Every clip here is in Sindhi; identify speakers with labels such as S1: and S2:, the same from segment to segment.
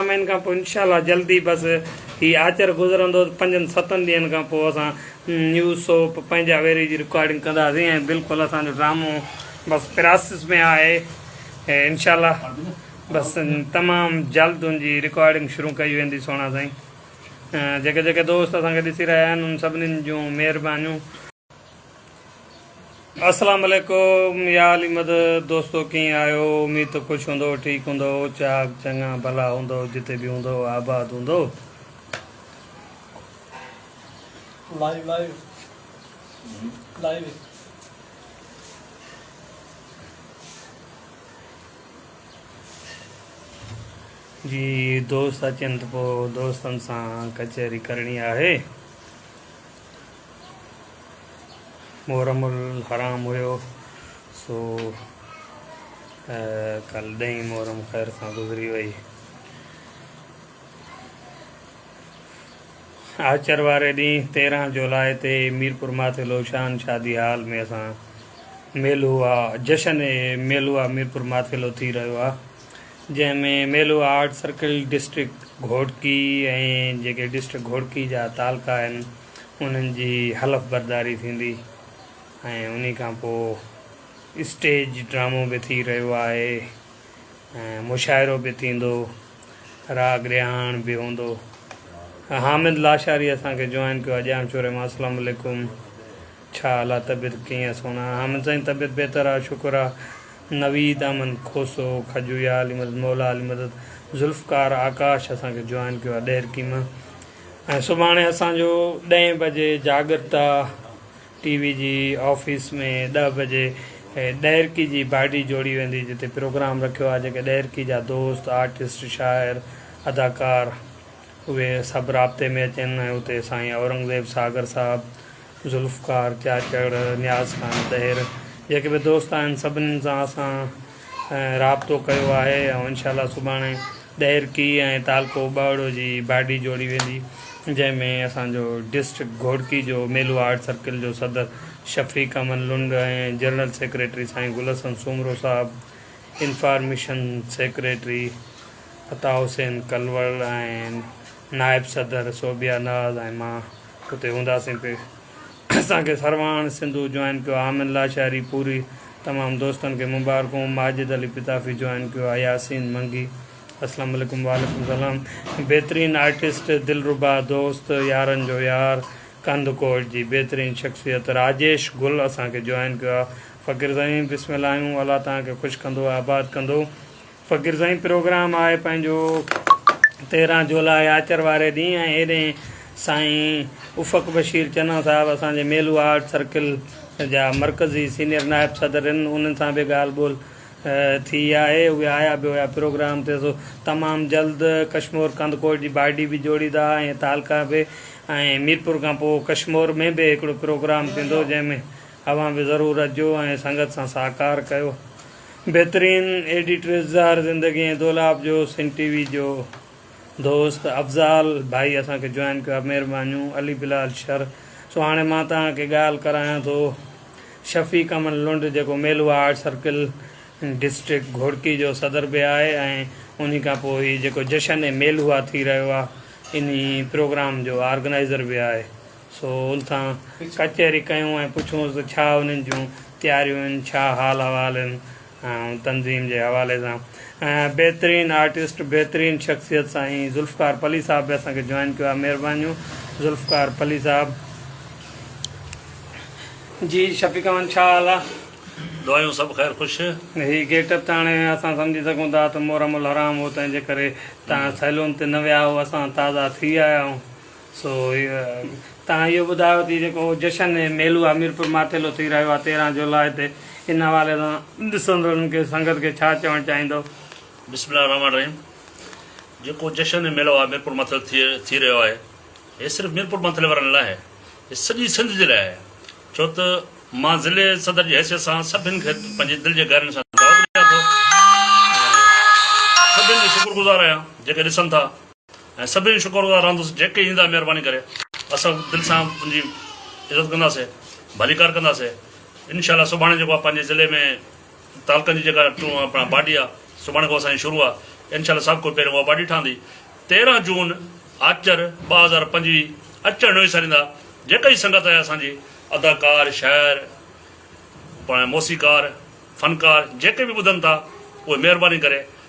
S1: مهين کان پوء انشاء الله جلد ئي بس هي آچر گذرندو ته پنجن ستن ڏينهن کان پوء اسان نيوز سوپ پنهنجا ويري جي رڪارڊنگ ڪنداسين ۽ بلڪل اسان جو ڊرامو بس پراسس ۾ آهي انشاء الله بس تمام جلد ان جي رڪارڊنگ شروع ڪئي ويندي سهڻا سائين جيڪي جيڪي دوست اسان کي ڏسي رهيا آهن ان سڀني جون مهربانيون اسلام عليڪم يا علي مدد دوستو ڪيئن آهيو اميد ته خوش هوندؤ ٺيڪ هوندؤ چاڪ چڱا ڀلا هوندؤ جتي به هوندؤ آباد هوندؤ. لائيو لائيو لائيو جي دوست اچن ته پوء دوستن سان ڪچهري ڪرڻي آهي. محرم الحرام هيو سو ڪل ڏهين محرم خير سان گذري وئي آچر واري ڏينهن تيرهن جولاء تي ميرپور ماٿي لوشان شادي حال ۾ اسان ميلو آه جشن ميلو آه ميرپور ماٿيلو ٿي رهيو آهي جنهن ۾ ميلو آرٽ سرڪل ڊسٽرڪٽ گهوٽڪي ۽ جيڪي ڊسٽرڪٽ گهوٽڪي جا تعلقا آهن انهن جي حلف برداري ٿيندي ۽ انهي کان پوء اسٽيج ڊرامو به ٿي رهيو آهي ۽ مشاعرو به ٿيندو، راڳ رهاڻ به هوندو. حامد لاشاري اسان کي جوائن ڪيو آهي ڄام شوري مان اسلام عليڪم ڇا حال آهي طبيعت ڪيئن آهي سهڻا حامد سائين طبيعت بهتر آهي شڪر آهي نويد احمد کوسو کجويا علي مدد مولا علي مدد ذوالفقار آڪاش اسان کي جوائن ڪيو آهي ڏهرڪي مان ۽ سڀاڻي اسان جو ڏهين بجي جاڳرتا ٽي وي جي آفيس ۾ ڏهه بجي ڏهرڪي جي باڊي جوڙي ويندي جتي پروگرام رکيو آهي جيڪي ڏهرڪي جا دوست آرٽسٽ شاعر اداڪار اهي سڀ رابطي ۾ اچين ۽ اتي سائين اورنگزيب ساگر صاحب ذوالفقار، چاچڙ، نياز خان طهير جيڪي به دوست آهن سڀنين سان اسان رابطو ڪيو آهي ۽ انشاء الله سڀاڻي ڏهر ڪي ۽ تعلقو ٻهڙو جي باڊي جوڙي ويندي جنهن ۾ اسان جو ڊسٽرڪٽ گهوڙڪي جو ميلو آرٽ سرڪل جو صدر شفيق احمد لنڊ ۽ جنرل سيڪريٽري سائين گل حسن سومرو صاحب، انفارميشن سيڪريٽري عطاء حسين ڪلوڙ ۽ نائب صدر صوبيا ناز ۽ مان. اتي هونداسين پي اسان کي سرواڻ سنڌو جوائن ڪيو عامر لاشاري پوري تمام دوستن کي مبارڪون ماجد علي پتافي جوائن ڪيو آ ياسين منگي اسلام عليڪم وعليڪم سلام بهترين آرٽسٽ دلربا دوست يارن جو يار ڪنڌ ڪوٽ جي بهترين شخصيت راجيش گل اسان کي جوائن ڪيو آ فقير سائين بسم الله آهيون الله توهان کي خوش ڪندو آباد ڪندو. فقير سائين پروگرام آهي پنهنجو تيرهن جولاء آچر واري ڏينهن ۽ هيڏهن سائين افق بشير چنا صاحب اسان جي ميلو آرٽ سرڪل جا مرڪزي سينئر نائب صدر هن انهن سان به ڳالهه ٻولهه ٿي آهي اهي آيا به هيا پروگرام تي سو تمام جلد ڪشمور ڪنڌڪوٽ جي باڊي به جوڙيندا ۽ تعلقا به ۽ ميرپور کان پوء ڪشمور ۾ به هڪڙو پروگرام ٿيندو جنهن ۾ اوهان به ضرور اچجو ۽ سنگت سان ساهڪار ڪيو. بهترين ايڊيٽر اظهار زندگي ۽ دولاب جو سنڌ ٽي وي جو دوست افضال ڀائي اسان کي جوائن ڪيو آهي مهربانيون علي بلال شر سو هاڻي مان توهان کي ڳالهه ڪرايان ٿو شفيق امن لنڊ جيڪو ميلوا آرٽ سرڪل ڊسٽرڪٽ گهوڙڪي جو صدر به آهي ۽ انهي کان پوء هي جيڪو جشن ميلوا ٿي رهيو آهي انهي پروگرام جو آرگنائزر به آهي سو ان سان ڪچهري ڪيون ۽ پڇيونس ته ڇا انهن جون تياريون آهن، ڇا حال احوال آهن ۽ تنظيم جي حوالي سان بهترين آرٽسٽ بهترين شخصيت سائين ذوالفقار پلي صاحب به اسان کي جوائن ڪيو آهي مهربانيون ذوالفقار پلي صاحب. جي شفيق احمد ڇا حال آ. دعايون سڀ
S2: خير خوش. هي گيٽ اپ ته
S1: هاڻي اسان سمجهي سگهون ٿا ته محرم الحرام هو تنهن جي ڪري توهان سيلون تي نه ويا هئو اسان تازا ٿي آيا آهيون. سو تهان اهو ٻڌايو ته جيڪو جشن ۽ ميلو اميرپور ماٿيلو ٿي رهيو آهي تيرهن جولاء تي ان حوالي سان ڏسندڙن کي سنگت کي ڇا چوڻ چاهيندو؟ بسم الله الرحمٰن
S2: الرحيم جيڪو جشن ۽ ميلو آهي ميرپور ماٿيلو ٿي ٿي رهيو آهي هي صرف ميرپور ماٿيلي وارن لاء ناهي هي سڄي سنڌ جي لاء آهي ڇو ته مان ضلعي صدر جي حيثيت سان سڀن کي پنهنجي دل جي گهرائين سان دعوت ڏيان ٿو ۽ سڀن جو شڪر گذار آهيان جيڪي ڏسن ٿا. ۽ سڀني جو شڪر گذار رهندس جيڪي ايندا مهرباني ڪري اسان دل سان ان جي عزت ڪنداسي ڀليڪار ڪنداسي انشاء الله سڀاڻي جيڪو آهي پنهنجي ضلعي ۾ تعلقن جي جيڪا اپڻا باڊي آهي سڀاڻي کان اسان جي شروع آهي انشاء الله سڀ ڪو پهريون اها باڊي ٺهندي تيرهن جون آچر ٻه هزار پنجويهه اچڻ نه وساريندا جيڪا هي سنگت آهي اسان جي اداڪار شاعر پاڻ موسيقار فنڪار جيڪي به ٻڌن ٿا اهي مهرباني ڪري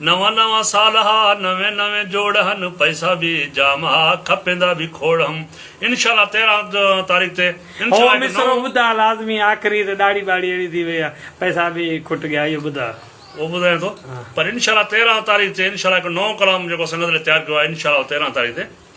S2: نوان نوان سال ها، نوين نوين جوڙ هن، پئسا به جام ها، کپيندا به کوڙ هم. انشاء الله تيرهن تاريخ تي انشاء الله هو هڪ مصرعو نئون.
S1: ٻڌاء لازمي آخري ته ڏاڙهي ٻاڙهي اهڙي ٿي وئي آهي پئسا به کٽ گيا اهو ٻڌاء. اهو ٻڌايان ٿو
S2: پر انشاء الله تيرهن تاريخ تي انشاء الله هڪ نئون ڪلام جيڪو سنگت لاء تيار ڪيو آهي انشاء الله تيرهن تاريخ تي.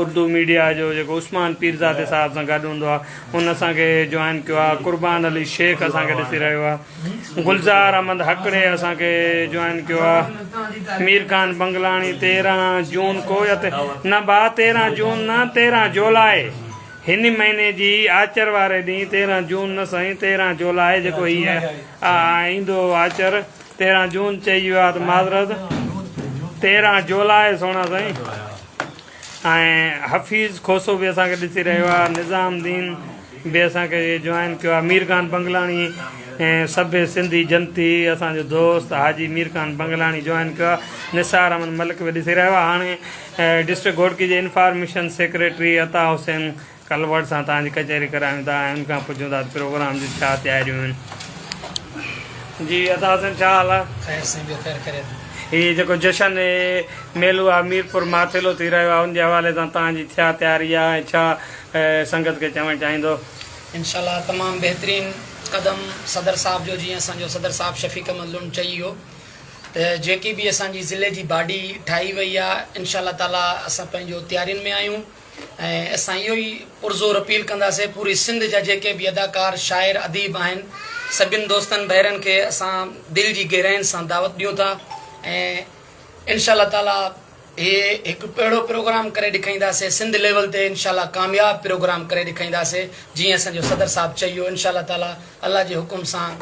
S1: اردو ميڊيا جو جيڪو عثمان پيرزادي صاحب سان گڏ هوندو آهي هن اسان کي جوائن ڪيو آهي قربان علي شيخ اسان کي ڏسي رهيو آهي گلزار احمد هڪڙي اسان کي جوائن ڪيو آهي مير خان بنگلاڻي تيرهن جون ڪو يا نه ڀاء تيرهن جون نه تيرهن جولاء هن مهيني جي آچر واري ڏينهن تيرهن جون نه سائين تيرهن جولاء جيڪو هي ايندو آچر تيرهن جون چئي ويو آهي ته معذرت تيرهن جولاء سونا سائين ۽ حفيظ کوسو به اسان کي ڏسي رهيو آهي نظام الدين به اسان کي جوائن ڪيو آهي مير خان بنگلاڻي سڀ سنڌي جنتي اسان جو دوست حاجي مير خان بنگلاڻي جوائن ڪيو آهي نثار احمد ملڪ به ڏسي رهيو آهي هاڻي ڊسٽرڪٽ گهوٽڪي جي انفارميشن سيڪريٽري عطا حسين ڪلورڊ سان توهان جي ڪچهري ڪرايون ٿا ۽ ان کان پڇون ٿا ته پروگرام جون ڇا تياريون آهن. جي عطا حسن ڇا حال آ؟ خير سائين ٻيو خير خيريت. هي جيڪو جشن هي ميلو آ ميرپور ماٿيلو ٿي رهيو آ ان جي حوالي سان توهان جي ڇا تياري آ ۽ ڇا سنگت کي چوڻ چاهيندو؟ انشاء الله
S3: تمام بهترين قدم صدر صاحب جو جيئن اسان جو صدر صاحب شفيق احمد لنڊ چئي ويو ته جيڪي به اسان جي ضلعي جي باڊي ٺاهي وئي آ انشاء الله تعالي اسان پنهنجو تيارين ۾ آهيون. ۽ اسان اهو ئي پرزور اپيل ڪنداسين پوري سنڌ جا جيڪي به اداڪار شاعر اديب آهن سڀين دوستن ڀائرن کي اسان دل جي گهراين سان دعوت ڏيون ٿا ۽ انشاء الله تعالي هي هڪ اهڙو پروگرام ڪري ڏيکائينداسين سنڌ ليول تي انشاء الله ڪامياب پروگرام ڪري ڏيکائينداسين جيئن اسان جو صدر صاحب چئي ويو انشاء الله تعالي الله جي حڪم سان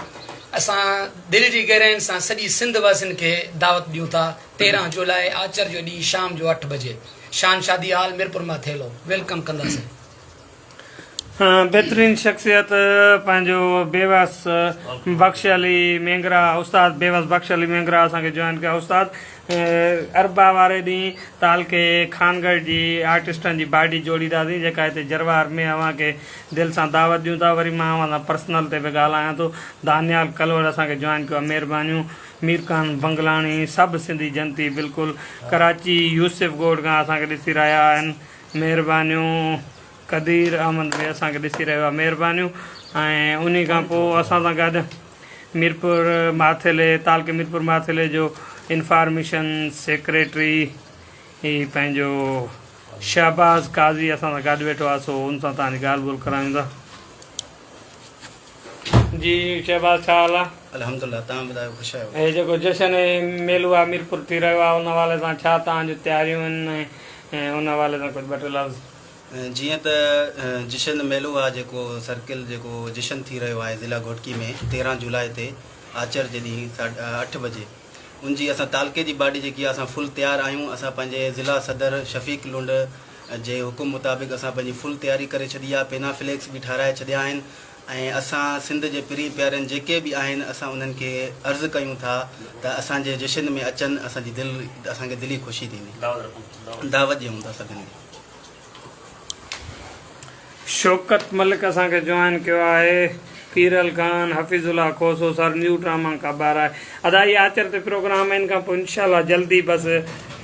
S3: اسان دل جي گهراين سان سڄي سنڌ واسين کي دعوت ڏيون ٿا. تيرهن جولاء آچر جو ڏينهن شام جو اٺ بجي شان شادي هال ميرپور مان ٿيلهو ويلڪم ڪنداسين.
S1: بهترين شخصيت پنهنجو بيوس بخش علي مينگرا استاد بيوس بخش علي مينگرا اسان کي جوائن ڪيا استاد اربع واري ڏينهن تعلقي خانگڙھ جي آرٽسٽن جي باڊي جوڙينداسين جيڪا هتي جروار ۾ اوهان کي دل سان دعوت ڏيون ٿا وري مان اوهان سان پرسنل تي به ڳالهايان ٿو دانيال ڪلوڙ اسان کي جوائن ڪيو آهي مهربانيون ميرخان بنگلاڻي سڀ سنڌي جنتي بلڪل ڪراچي يوسف ڳوٺ کان اسان کي ڏسي رهيا آهن مهربانيون قدير احمد به اسان کي ڏسي رهيو آهي مهربانيون ۽ انهي کان پوء اسان سان گڏ ميرپور ماٿيلي تعلقي ميرپور ماٿيلي جو انفارميشن سيڪريٽري هي پنهنجو شهباز قاضي اسان سان گڏ ويٺو آهي سو ان سان توهان جي ڳالهه ٻولهه ڪرايون ٿا. جي شهباز ڇا حال آ. الحمدالله تهان ٻڌايو
S4: خوش آهيو. هي جيڪو جشن ۽
S1: ميلو آميرپور ٿي رهيو آهي ان حوالي سان ڇا توهان جون تياريون آهن ۽ ان حوالي سان ڪجهه ٻه ٽي لفظ. جيئن ته
S4: جشن ميلو آ جيڪو سرڪل جيڪو جشن ٿي رهيو آهي ضلع گهوٽڪي ۾ تيرهن جولاء تي آچر جي ڏينهن ساڍي اٺ بجي ان جي اسان تعلقي جي باڊي جيڪي آ اسان فل تيار آهيون اسان پنهنجي ضلع صدر شفيق لنڊ جي حڪم مطابق اسان پنهنجي فل تياري ڪري ڇڏي آ پينا فليڪس به ٺاهرائي ڇڏيا آهن ۽ اسان سنڌ جي پرين پيارين جيڪي به آهن اسان انهن کي عرض ڪيون ٿا ته اسان جي جشن ۾ اچن اسان جي دل اسان کي دلي خوشي ٿيندي دعوت ڏيون ٿا سڀني کي.
S1: شوڪت ملڪ اسان کي جوائن ڪيو آهي Piral Khan Hafeez Ullah Khoso sir new drama ڪا بار آهي ادا هي آچر تي پروگرام آهي ان کان پوء انشاء الله جلدي بس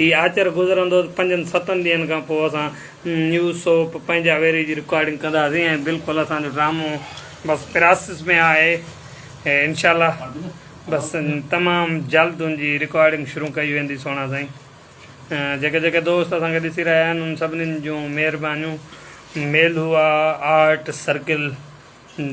S1: هي آچر گذرندو ته پنجن ستن ڏينهن کان پوء اسان نيو سوپ پنهنجا ويري جي رڪارڊنگ ڪنداسين ۽ بلڪل اسان جو ڊرامو بس پراسس ۾ آهي انشاء الله بس تمام جلد ان جي رڪارڊنگ شروع ڪئي ويندي سهڻا سائين جيڪي جيڪي دوست اسان کي ڏسي رهيا آهن ان سڀني جون مهربانيون ميلهوا آرٽ سرڪل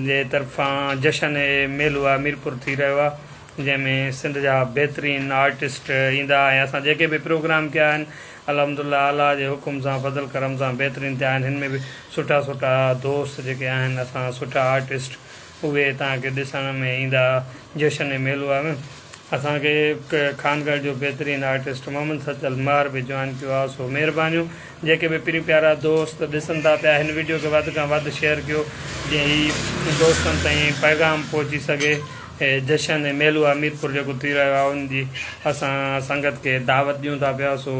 S1: جي طرفان جشن اي ميلهوا ميرپور ٿي رهيو آهي جنهن ۾ سنڌ جا بهترين آرٽسٽ ايندا ۽ اسان جيڪي به پروگرام ڪيا آهن الحمد الله اعليٰ جي حڪم سان فضل ڪرم سان بهترين ٿيا آهن هن ۾ به سٺا سٺا دوست جيڪي آهن اسان سٺا آرٽسٽ اهي توهان کي ڏسڻ ۾ ايندا جشن ۽ ميلو آهي اسان کي خانگڙھ جو بهترين آرٽسٽ محمد سچل مهر به جوائن ڪيو آهي سو مهربانيون جيڪي به پرين پيارا دوست ڏسن ٿا پيا هن وڊيو کي وڌ کان وڌ شيئر ڪيو جئين هي دوستن تائين پيغام پهچي سگهي هي جشن ۽ ميلو آهي ميرپور جيڪو ٿي رهيو آهي ان جي اسان سنگت کي دعوت ڏيون ٿا پيا سو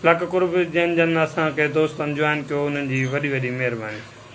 S1: لک قرب جن جن اسان کي دوستن جوائن ڪيو انهن جي وڏي وڏي مهرباني.